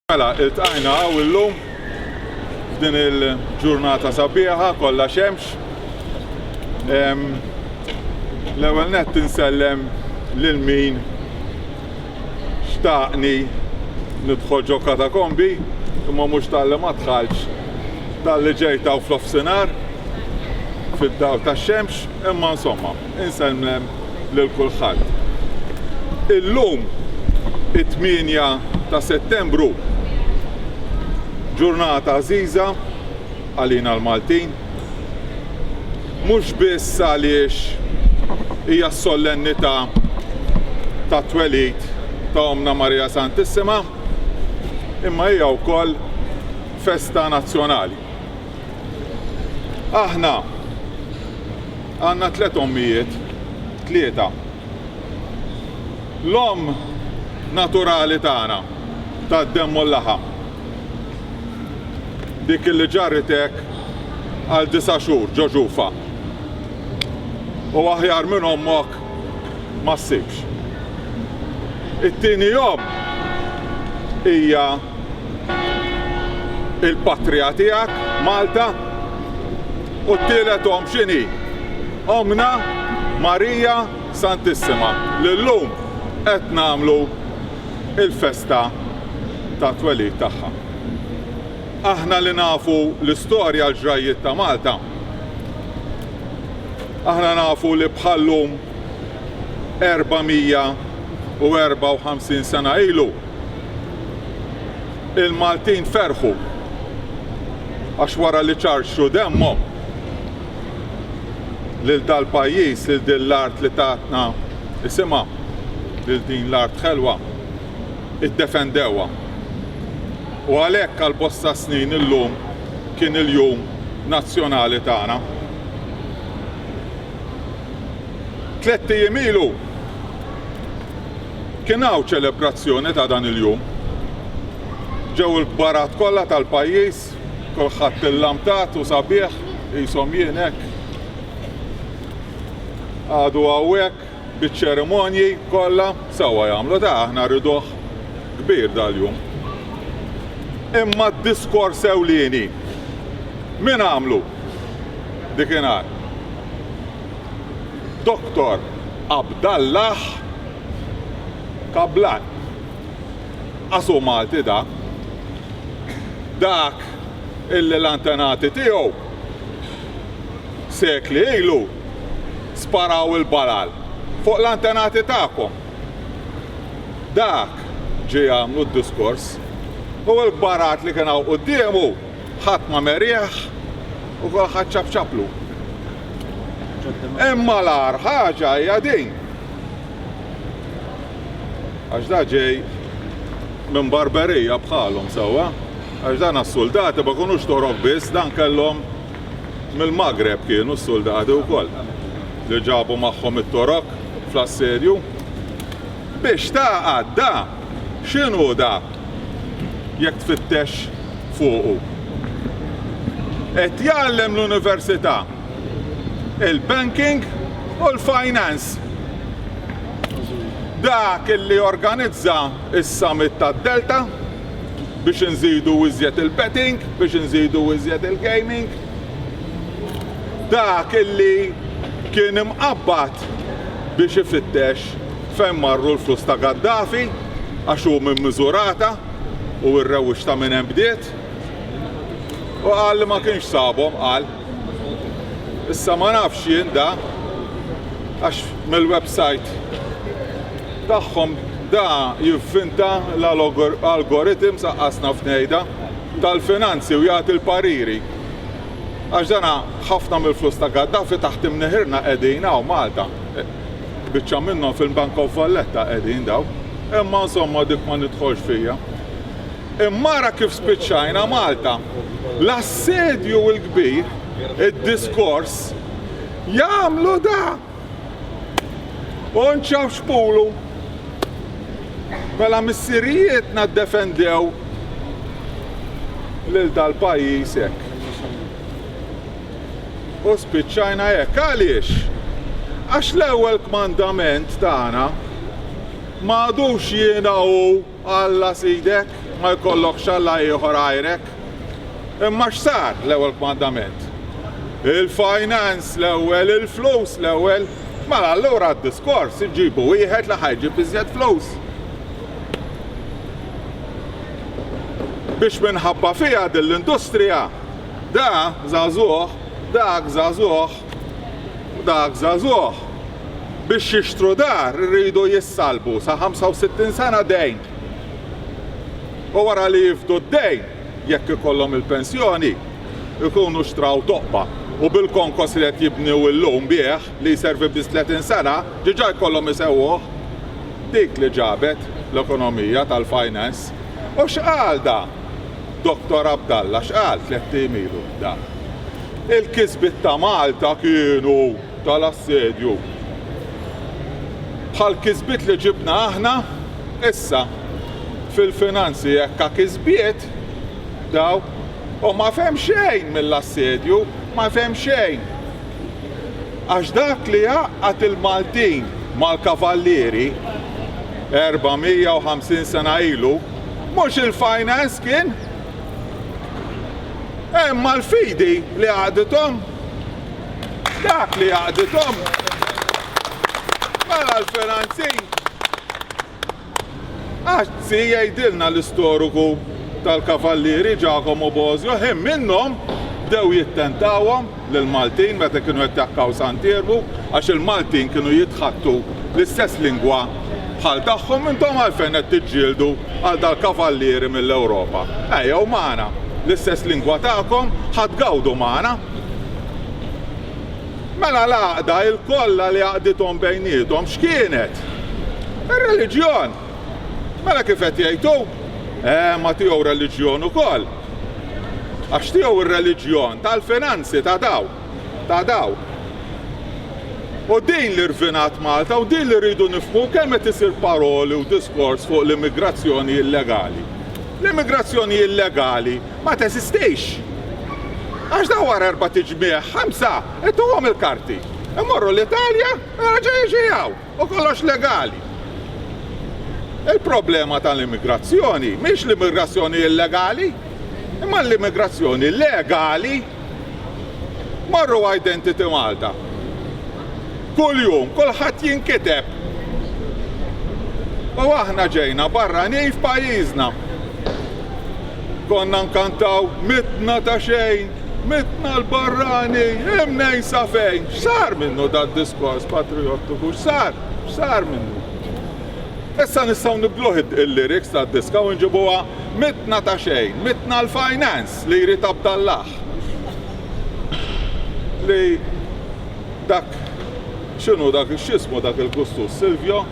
Mela, iltqajna għaw illum f'din il-ġurnata sabiħa kollha xemx. L-ewwel nett insellem lil min xtaqni nidħol ġo katakombi imma mhux tal-li ma dħalx tal-li ġejtaw fl-offsinar fid-daw tax-xemx imma insomma. Insellmem lil kulħadd. Illum it-tmienja ta' Settembru. Ġurnata għażiża għalina l-Maltin. Mhux biss għaliex hija s-sollennità tat-twelid ta' Ommna Marija Santissima, imma hija wkoll festa nazzjonali. Aħna għandna tliet ommijiet, tlieta. L-omm naturali tagħna tad-demm u l-laħam. Dik li ġarritek għal disa' xhur ġo ġufa. U aħjar minn ommok ma ssibx. It-tieni omm hija il-patrija tiegħek Malta u t-tielet omm x'inhi? Ommna Marija Santissima li llum qed nagħmlu l-festa tat-twelid tagħha. Aħna li nafu l-istorja l-ġrajjiet ta' Malta, aħna nafu li bħal-lum 454 sena ilu, il-Maltin ferħu għax wara li ċarxu demmhom lil dal-pajjiż, lil din l-art li tatna isimha, lil din l-art ħelwa, iddefendewha. U għalhekk għal bosta snin illum kien il-jum nazzjonali tagħna. Tlett ijiem ilu Kien hawn ċelebrazzjoni ta' dan il-jum. Ġew il-kbarat kollha tal-pajjiż, kulħadd illamtat u sabiħ, qishom jien hekk. Għadu hawnhekk biċ-ċerimonji kollha sewwa jagħmlu ta' aħna rriduh kbir dal-jum. Imma d-diskors ewlieni min għamlu dikinhar? Doktor Abdallah Kablan. Għax hu Malti da. Dak illi l-antenati tiegħu sekli ilu sparaw il-balal fuq l-antenati tagħkom. Dak ġie jagħmlu d-diskors u l-kbarat li kien hawn quddiemu Ħadd ma merieħ u kulħadd ċapċaplu. Imma l-agħar ħaġa hija din. Għax da ġej minn barberija bħalhom sewwa. Għax dan għas-suldati ma kunux torok biss, dan kellhom mill-Magreb kienu s-suldati wkoll li ġabu magħhom it-torok fl-assedju. Biex tagħqad da? X'inhu da jekk tfittex fuqu? Qed jgħallem l-università, il-banking u l-finance. Dak li jorganizza s-summit tad-Delta biex inżidu iżjed il-betting, biex inżidu iżjed il-gaming. Dak li kien imqabbad biex ifittex Fejn marru l-flus ta' Gaddafi għax hu minn Misurata u r-rewwix ta' minn hemm bdiet? U qal li ma kienx sabhom, qal. Issa ma nafx jien da għax mill-website tagħhom da jivvinta l-algorithms aqqas naf ngħidha tal-finanzi u jagħti l-pariri. Għax dana ħafna mill-flus ta' Gaddafi taħt imniħirna qegħdin hawn Malta. Biċċa minnhom fil-Bank of Valletta qegħdin daw. Imma insomma dik ma nidħolx fija. Imma ara kif spiċċajna Malta. L-assedju l-kbir, id-diskors, jagħmlu da! U nċaf xpulu. Mela missirijietna ddefendew lil dal-pajjiż hekk. U spiċċajna hekk. Għaliex? Għax l-ewwel kmandament tagħna ma għadux jiena hu Alla Sidek, ma jkollokx Alla ieħor għajrek. Imma x'sar l-ewwel kmandament? Il-finance l-ewwel, il-flus l-ewwel. Mela allura d-diskors iġibu wieħed li ħajġib iżjed flus. Biex minħabba fiha din l-industrija Da żagħżugħ, dak żagħżugħ u dak żagħżugħ biex jixtru dar iridu jissallbu sa 65 sena dejn u wara li jifdu d-dejn, jekk ikollhom il-pensjoni, ikunu xtraw toqba u bil-konkos li qed jibnew illum bih li jservi biss 30 sena diġà jkollhom isewwuh. Dik li ġabet l-ekonomija tal-finance. U x'qal da? Dottor Abdalla x'qal tlett ijiem ilu dan? Il-kisbiet ta' Malta kienu tal-assedju. Bħall-kisbiet li ġibna aħna issa fil-finanzi hekk ha kisbiet dawk u ma fehem xejn mill-assedju, ma fehem xejn. Għax dak li għaqqad il-Maltin mal-Kavallieri 450 sena ilu, Mhux il-finance kien? Imma l-fidi li għaqdithom. Dak li għaqdithom. Mela l-finanzi. Għazzi jgħidilna l-istoriku tal-kavallieri Giacomo Bosio ħin minnhom bdew jittentawhom lill-Maltin meta kienu jattakkaw Sant Iermu għax il-Maltin kienu jitħattu l-istess lingwa bħal tagħhom intom għalfejn qed tiġġieldu għal dal-kavallieri mill-Ewropa? Ejjew magħna l-istess lingwa tagħkom ħa tgawdu magħna. Mela l-għaqda il-kollha li għaqdithom bejniethom x'kienet? Ir-reliġjon. Mela kif qed jgħid hu? Eh ma tiegħu reliġjon ukoll. Għax tiegħu r-reliġjon tal-finanzi ta' dawk, ta' dawk. U din li rvinat Malta u din li rridu nifhmu kemm qed isir paroli u diskors fuq l-immigrazzjoni illegali. L-immigrazzjoni illegali ma teżistix. Għax daw wara erba' tiġmieħ, ħamsa, ituhom il-karti. Imorru l-Italja, raġa' jiġi hawn. U kollox legali. Il-problema tal-immigrazzjoni mhix l-immigrazzjoni illegali, imma l-immigrazzjoni legali. Marru Identity Malta. Kull jum, kulħadd jinkiteb. U aħna ġejna barranin f'pajjiżna. Konna nkantaw mitna ta' xejn, mitna l-barrani, imnejn sa fejn. X'sar minnu dad-diskors patrijottiku, x'sar, x'sar minnu? Issa nistgħu nibdluh il-lyrics tad-diska u nġibuha mitna ta' xejn, mitna l-finance li jrid Abdallah. Li dak x'inhu dak x'ismu dak il-kustus Silvio?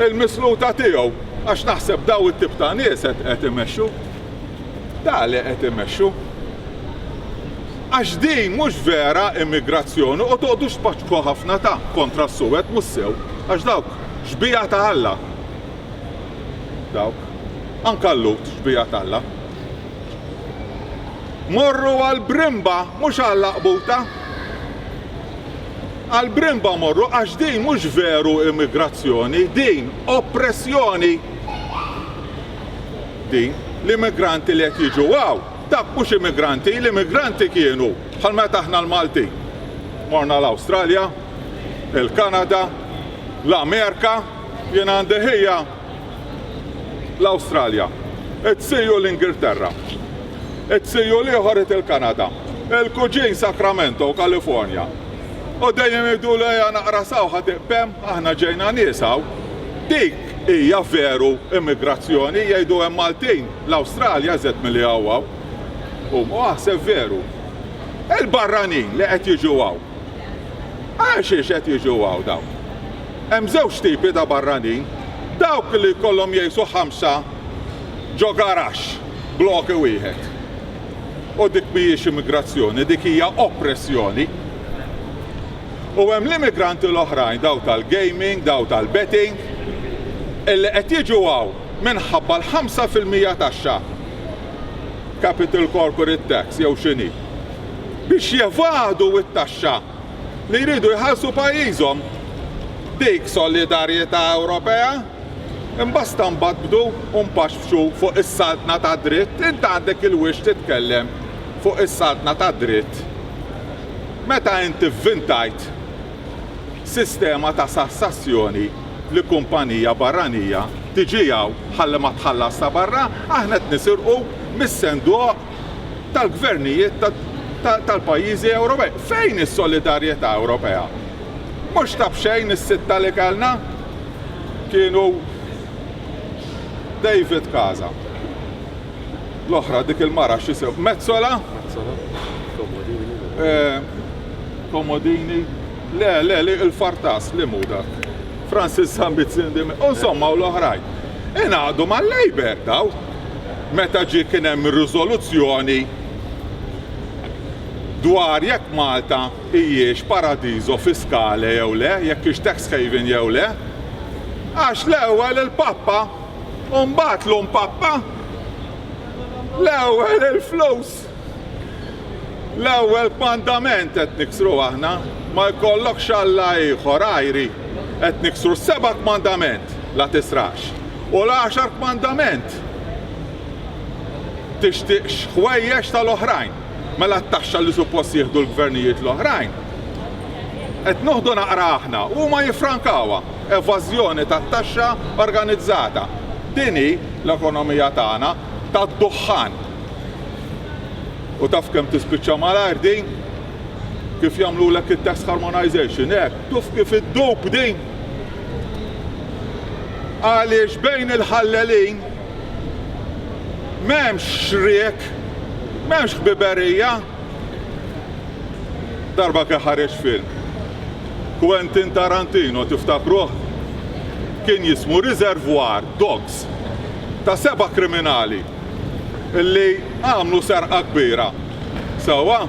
il-misluta tiegħu għax naħseb daw it-tip ta' nies qed imexxu. Da li qed imexxu. Għax din mhux vera immigrazzjoni u toqgħodux tpaċku ħafna ta' kontra s-suwed mhux sew għax dawk xbija ta' Alla. Dawk. Anka l-lut xbija ta' Alla. Morru għal brimba mhux għal laqbuta. Għal Bremba morru għax din mhux veru immigrazzjoni, din oppressjoni! Din, l-immigranti li qed jiġu hawn, dak mhux immigranti, l-immigranti kienu bħal meta aħna l-Maltin morna l-Awstralja, il-Kanada, l-Amerika, jien għandi ħija l-Awstralja, qed sejju l-Ingilterra, qed sejju l-ieħor qed il-Kanada, il-kuġin Sacramento, Kalifornja. U dejjem idu li hija naqra sawħa tiqbem, aħna ġejna nies hawn. Dik hija veru immigrazzjoni, jgħidu hemm Maltin, l-Awstralja żed milli hawn hawn. U ma aħseb veru. Il-barranin li qed jiġu hawn. Għax qed jiġu hawn dawn. Hemm żewġ tipi ta' barranin, dawk li jkollhom jgħixu ħamsa ġo garaxx bloke wieħed. U dik mhijiex immigrazzjoni, dik hija oppressjoni. U hemm l-immigranti l-oħrajn, dawk tal-gaming, dawk tal-betting, illi qed jiġu hawn minħabba l-ħamsa fil-mija taxxa, capital corporate tax jew x'inhi, biex jevadu t-taxxa. li jridu jħarsu pajjiżhom. Dik solidarjetà Ewropea? Imbasta mbagħad bdu u mpaxfxu fuq is-saltna tad-dritt, int għandek il-wixk titkellem fuq is-saltna tad-dritt meta int ivvintajt sistema ta' sassazzjoni li kumpanija barranija tiġi hawn ħalli ma tħallas ta' barra, aħna qed nisirqu mis-senduoq tal-gvernijiet tal-pajjiżi Ewropej. Fejn is-solidarjetà Ewropea? Mhux ta' b'xejn is-sitta li kellna kienu David Casa, l-oħra dik il-mara x'isem Mezzola, Comodini, le le li il-Fartas li mhu dak, Francis Sambizzin, insomma u l-oħrajn. Ingħaqdu mal-Labour daw. meta ġie kien hemm ir-riżoluzzjoni dwar jekk Malta hijiex paradiso fiscale jew le, jekk hix tax haven jew le, għax l-ewwel il-Pappa u mbagħad l-Omm Pappa, l-ewwel il-flus L-ewwel kmandament qed niksru aħna, ma jkollokx alla ieħor għajri. Qed niksru s-seba' kmandament, la tisraqx, u l-għaxar kmandament, tixtiqx ħwejjeġ tal-oħrajn. Mela t-taxxa li suppost jieħdu l-gvernijiet l-oħrajn, qed noħdu naqra aħna u huma jiffrankawha. Evażjoni tat-taxxa organizzata. Din hi l-ekonomija tagħna tad-duħħan. U taf kemm tispiċċa malajr din? Kif jagħmlulek it-test harmonization hekk, tuf kif iddub din! Għaliex bejn il-ħallelin m'hemmx xriek, m'hemmx ħbiberija. Darba kien ħareġ film. Quentin Tarantino tiftakruh? Kien jismu Reservoir Dogs ta' seba' kriminali li għamlu serqa kbira sewwa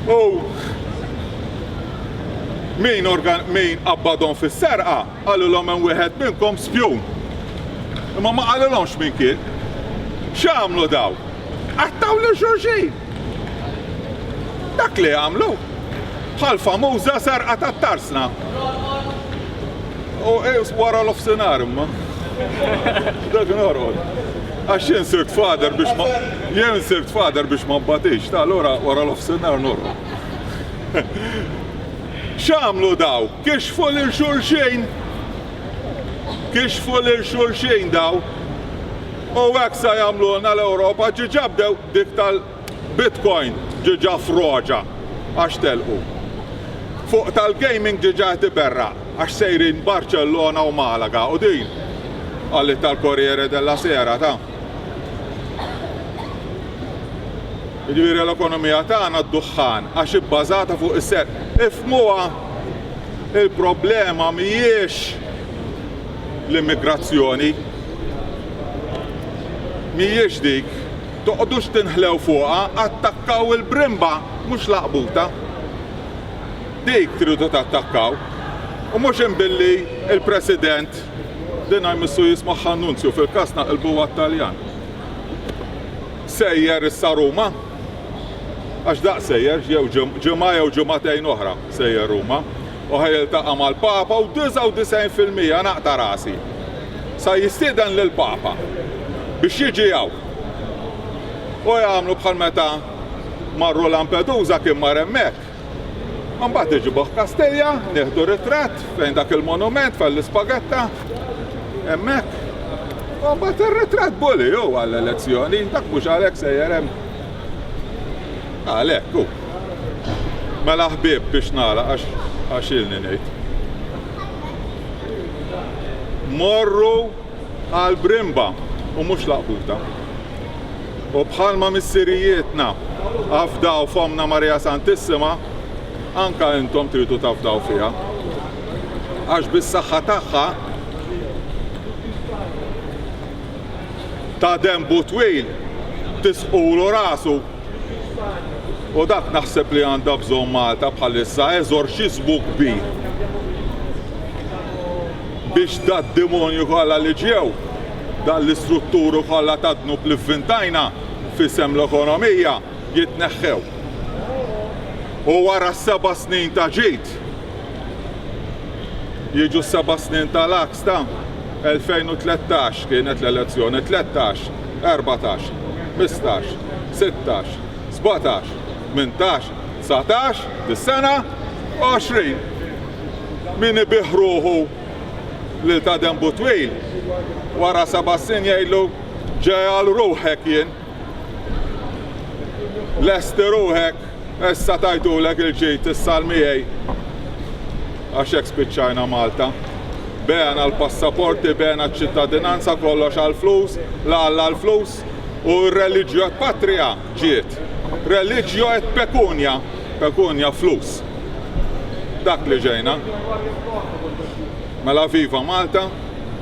u min min qabbadhom fis-serqa qalilhom hemm wieħed minnkom spjun. Imma ma qalilhomx min kien. X'għamlu daw? Qattgħu lil xulxin! Dak li għamlu bħal famuża sarqa ta' tarsna. U eh, wara l-ofsenar imma. Dak norqod. Għax jien sirt fader biex ma jien sirt fader biex ma batix, ta' l-ora wara l-ofsenar norqod. X'għamlu daw? Kiex fuq il xulxejn? Kiex fuq il xulxejn daw? U għaksa sa jagħmlulna l-Ewropa ġiġabdew Dik tal-Bitcoin diġà froġa għax telqu. Fuq tal-gaming diġà qed iberraq għax sejrin Barċellona u Malaga u din qalitha l-Corriere della Sera ta. Jiġifieri l-ekonomija tagħna d-duħħan għax hi bbażata fuq is-serq. Ifhmuha, il-problema mhijiex l-immigrazzjoni. Mhijiex dik. Toqgħdux tinħlew fuqha, attakkaw il-brimba mhux l-għaqbuta. Dik tridu tattakkaw. U mhux imbilli il-President, dinha jmissu jismuh Annunzju fil-każ naqilbu għat-Taljan. Sejjer issa Ruma? Għax daqs sejjer, jew ġimgħa jew ġimgħatejn oħra sejjer Ruma. u ħa jiltaqa' mal-Papa u 99 fil-mija naqta' rasi sa jistieden lill-Papa biex jiġi hawn. U jagħmlu bħal meta marru Lampedusa kien mar hemmhekk. Imbagħad iġibuh Kastilja, nieħdu ritratt fejn dak il-monument fejn l-ispagetta hemmhekk. U mbagħad ir-ritratt buli hu għall-elezzjoni, dak mhux għalhekk sejjer hemm. Għalhekk hu. Mela ħbieb biex nagħlaq għax għax ilni ngħid. Morru għal brimba u mhux laqbuta. U bħalma missirijietna afdaw fomna Marija Santissima, anka intom tridu tafdaw fiha. Għax bis-saħħa tagħha ta' denbu twil tisqulu rasu u dak naħseb li għandha bżonn Malta bħalissa eżorċiżmu kbir biex dad-demonju kollha li ġew, dan l-istrutturu kollha tad-dnub li vvintajna f'isem l-ekonomija jitneħħew. U wara s-seba' snin ta' ġid jiġu s-seba' snin tal Stampa, 2013 kienet l-elezzjoni, tlettax, erbatax, tmistax, sittax, sbatax, tmintax, dsatax, dis-sena, għoxrin! Min ibiegħ ruħu lil ta' denbu twil, wara seba' snin jgħidlu ġegħel ruħek jien! Lesti ruħek, issa tajtulek il-ġid, issal miegħi. Għax hekk spiċċajna Malta. Bena l-passaporti, bena ċ-ċittadinanza kollox għall-flus, la għalla l-flus u r-reliġju et patria ġiet. Reliġju et pekunja, pekunja flus. Dak li ġejna. Mela viva Malta,